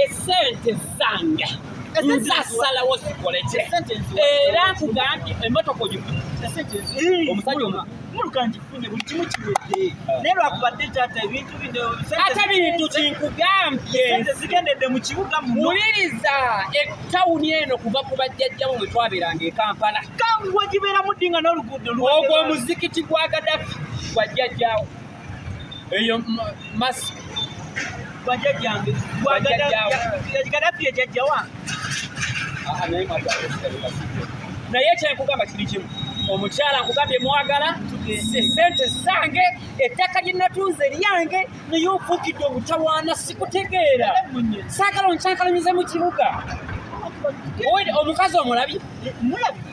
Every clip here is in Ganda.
esente zange zasalawo zikoleki era nkugambye emotoka omusajja omu mulukanjifunye buli kimu kiwedde naye lwakubadde kyata ebintu binoate bintu kinkugambye zigendedde mu kibuga muwuliriza etawuni eno kuva ku bajjajjamu bwe twabeeranga e kampala kangu wagibeeramu ddi nga n'oluguudo ogwo omuzikiti gwa gadafi gwajjajjawo eyo mask bajajjange gaddafi ejajjawa naye kyenkugamba kiri kimu omukyala nkugambye mwagala sente zange ettaka lye natunze lyange naye ofukidde obutawaana sikutegeera saagala onkyankalamize mu kibuga omukazi omulabi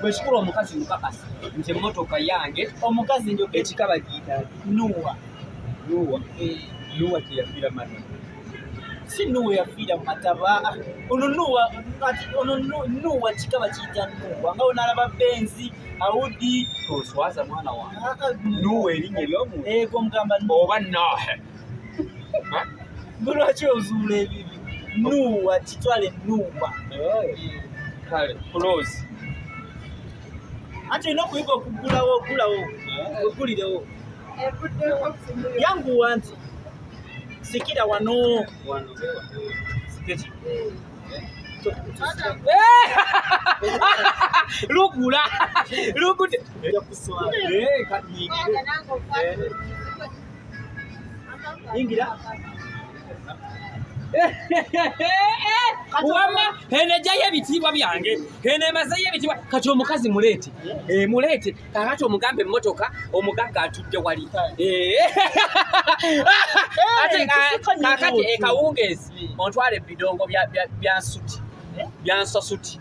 bwekikula omukazi mukakasa nti emotoka yange omukazi njo ekika bagiyita nuwa nuwa eh. nuwa teyafiira mata si nuwa yafiira mu mataba ono nuwa ono nuwa kika bakiyita nuwa nga onalaba benzi awudi oswaza mwana wange ah, ah, nuwa erinnya eryomuntu ego mugamba oba nahe lwaki ozuula ebibi nuuwa kitwale nuuwa kale kuloozi anti olina okuyiga okugulawo ogulawo ogulirewo yanguwa nti sikira wano lugula lugude Ingira. wamma eno ejjayo ebitiibwa byange eno emazeyo ebitiibwa kati omukazi muleete eh, muleete kakati omugambe emmotoka omugagga atudde wali eh. kakati ekawungeezi ontwala ebidongo bya nsuti bya nsasuti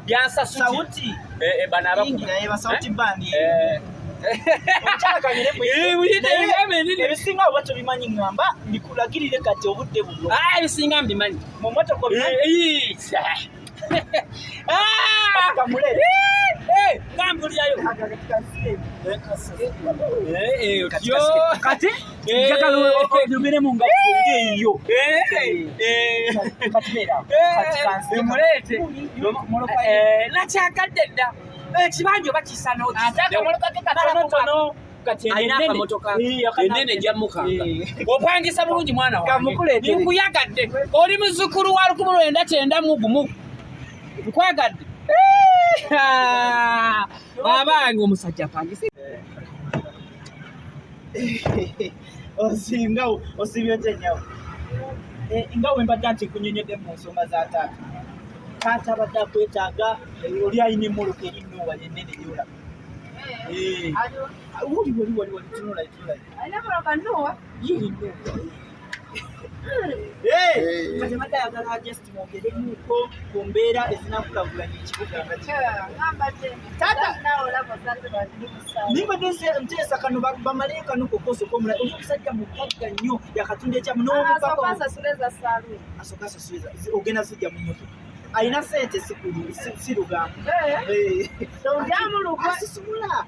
byansasuti sauti eh, eh, bana abakuba naye ba sauti eh? bandi eh ebisinga oba tobimanyi ngamba mbikulagirire kati obudde buno ah, ebisinga mbimanyi mumotoka kati njagala oyogere mu nga eyo katibeeramuleete nakyagadde dda ekibanja oba kisa nokisakamolokakekatonotono enene jamukanga opangisa bulungi mwana wange nkuyagadde oli muzukulu wa lukumu lwenda kyenda mugumu nkwagadde abange omusajja apangisa osinga osibye otya nyawo eh, nga wembadde nti nkunyonyodde mu nsonga za taata taata abadde akwetaaga eh, oli alina emoloka eri nuwa yenene yola woliwoliwoliwolitunulatunula mwogeremuko ku mbeera ezinakulagulanya ekibuga nimbadde nteesa kano bamale kano kokosoka omulala oli omusajja mugagga nnyo yakatunda ekyamu n'omukaogenda sijja mu moto alina sente sirugambo eh. eh.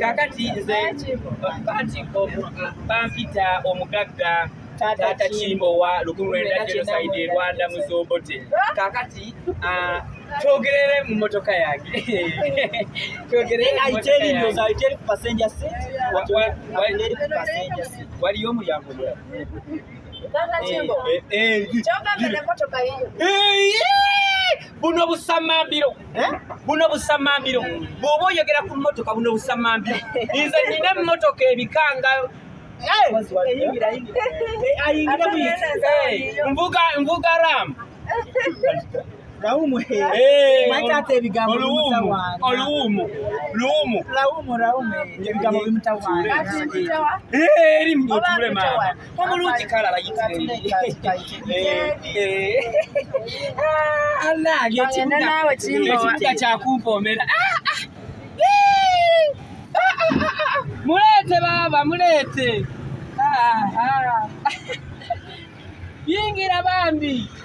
kakati nze bati bampita omugagga taata kimbo wa lukulu lwenda genocide e rwanda muzobote kakati ah, twogerere mu motoka yange waliyo omulyango buno busamambiro eh? buno busamambiro bwoba oyogera ku motoka buno busamambiro nze nina emotoka ebikanga nvuga nvuga ram Laumu he. Hey, Mwatate ebigambo bimutawaana. Oluwumu. Luwumu. Laumu, laumu. Ebigambo bimutawaana. Eri mnyotuule maama. omulungi kale abayitiriaekibuga kyakumpoomera muleete baaba muleete yingira bambi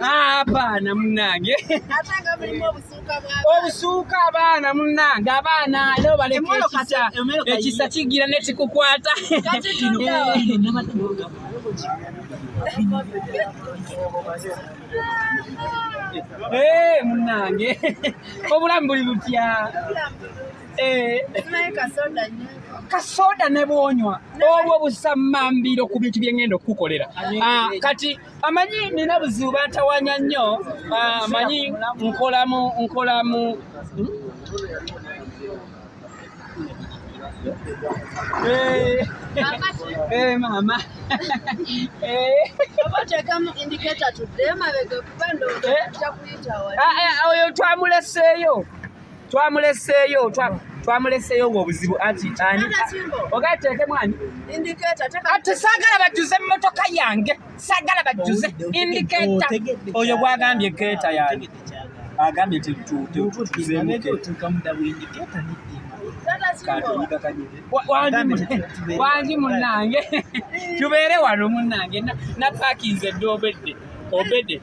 Ah, abaana munange obusuuka abaana munange abaana leo baleka ekisa ekisa kigira nekikukwata eh, munange obulamu buli butya eh. kasoda nebwonywa obwo busamambiro ku bintu byengenda okukukolera ah, kati amanyi nina buzibu bantawanya nnyo ah, amanyi nkolamu nkolamu Hey. Hey, mama. Hey. Oyo twamuleseeyo twamuleseeyo twamuleseeyo ngaobuzibu anti ani ogala teekemu ani ati saagala bajjuze emmotoka yange saagala bajjuze indikeeta oyo gwagambye keeta yange agambye nti wangi munange tubeere wano munange napakinze dde obedde obedde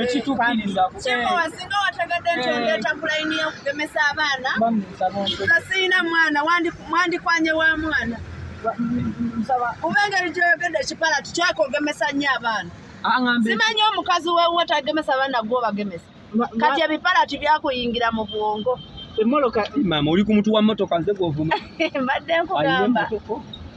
ekitukkiriza kyemowa singa wategedde nti eh. ondeeta ku layini y'okugemesa abaana nga sirina mwana mwandikwanye wa mwana kuba engeri gyoyogedde ekipala tukyakogemesa nnyo abaana ah, simanyi omukazi wewe tagemesa abaana gwobagemesa kati ebipala tibyakuyingira mu bwongo emoloka mama oli ku mutu wa motoka nze gwovuma mbadde nkugamba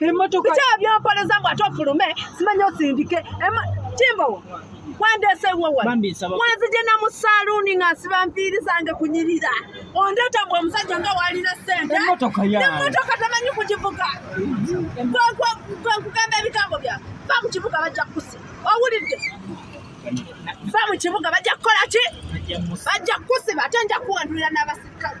emotoka biki ebyonkoleza mbu ate ofulume simanyi osindike kimbowa wandese wowa wanzije na musaluuni nga nsiba nviiri zange kunyirira ondeeta mbu omusajja nga waalina sente emotoka tamanyi kugivuga gwenkugamba ebigambo bya va mu kibuga bajja kukusi owulidde va mu kibuga bajja kukola ki bajja kukusiba ate nja kuwandulira n'abasirikale